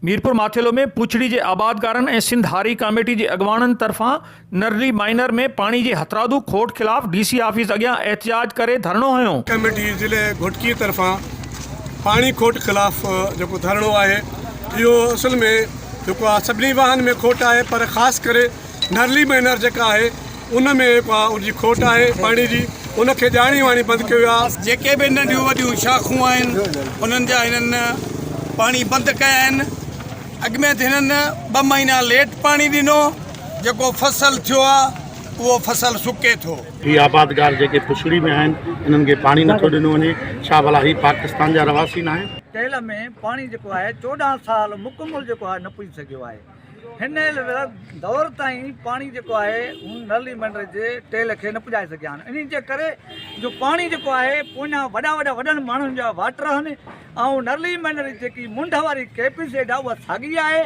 ميرپور ماٿيلو ۾ پوڇڙي جي آبادگارن ۽ سنڌ هاري ڪاميٽي جي اڳواڻن طرفان نرلي مائنر ۾ پاڻي جي هٿرادو کوٽ خلاف ڊي سي آفيس اڳيان احتجاج ڪري ڌرڻو هنيو. ڪاميٽي ضلعي گهوٽڪي طرفان پاڻي کوٽ خلاف جيڪو ڌرڻو آهي اهو اصل ۾ جيڪو آهي سڀني واهن ۾ کوٽ آهي پر خاص ڪري نرلي مائنر جيڪا آهي ان ۾ اهي پاء جي کوٽ آهي پاڻي جي ان کي ڄاڻي واڻي بند ڪيو ويو آهي. جيڪي به ننڍيون وڏيون شاخون آهن انهن جا هنن پاڻي بند ڪيا آهن اڳ ۾ ته هنن ٻه مهينا ليٽ پاڻي ڏنو جيڪو فصل ٿيو آهي اهو فصل سڪي ٿو. هي آبادگار جيڪي پڇڙي ۾ آهن انهن کي پاڻي نه ٿو ڏنو وڃي ڇا ڀلا هي پاڪستان جا رهواسي ناهن. ٽيل ۾ پاڻي جيڪو آهي چوڏهن سال مڪمل جيڪو آهي نه پڄي سگهيو آهي. هن دور تائين پاڻي جيڪو آهي هن نل ۽ منڊر جي ٽيل کي نه پڄائي سگهيا آهن انهي جي ڪري جو پاڻي جيڪو آهي پوئيان وڏا وڏا وڏن ماڻهن جا واٽر آهن ۽ نل ۽ منڊر جي جيڪي منڍ واري ڪيپس ايڊا اها ساڳي آهي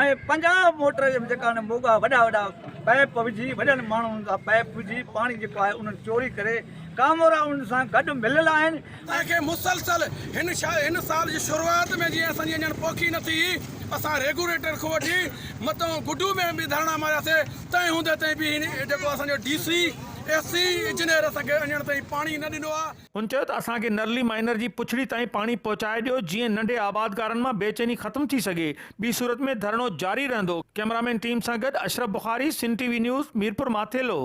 ۽ پنجاهه موٽر جي جيڪا آهن موڳا وڏا وڏا پائپ وجهي وڏن ماڻهن جا پائپ وجهي پاڻي جيڪو آهي انهن چوري ڪري ڪامورا انهن سان گڏ مليل آهن تنهن کي مسلسل هن هن سال جي شروعات ۾ جيئن اسان جي اڃڻ پوکي نه ٿي هئي اسان ريگوليٽر کان وٺي متئون گڊو ۾ به ڌرڻا ماريا سي تنهن هوندي تائين به هن جيڪو اسان جو D C S C engineer اسان کي اڃڻ تائين پاڻي نه ڏنو آ. هن چيو ته اسان کي نرلي مائنر جي پڇڙي تائين پاڻي پهچائي ڏيو جيئن ننڍي آبادگارن مان بي چيني ختم ٿي سگهي ٻي صورت ۾ ڌرڻو جاري رهندو ڪئميرامين ٽيم سان گڏ Ashraf Bukhari Sindh T V news Mirpur Mathelo.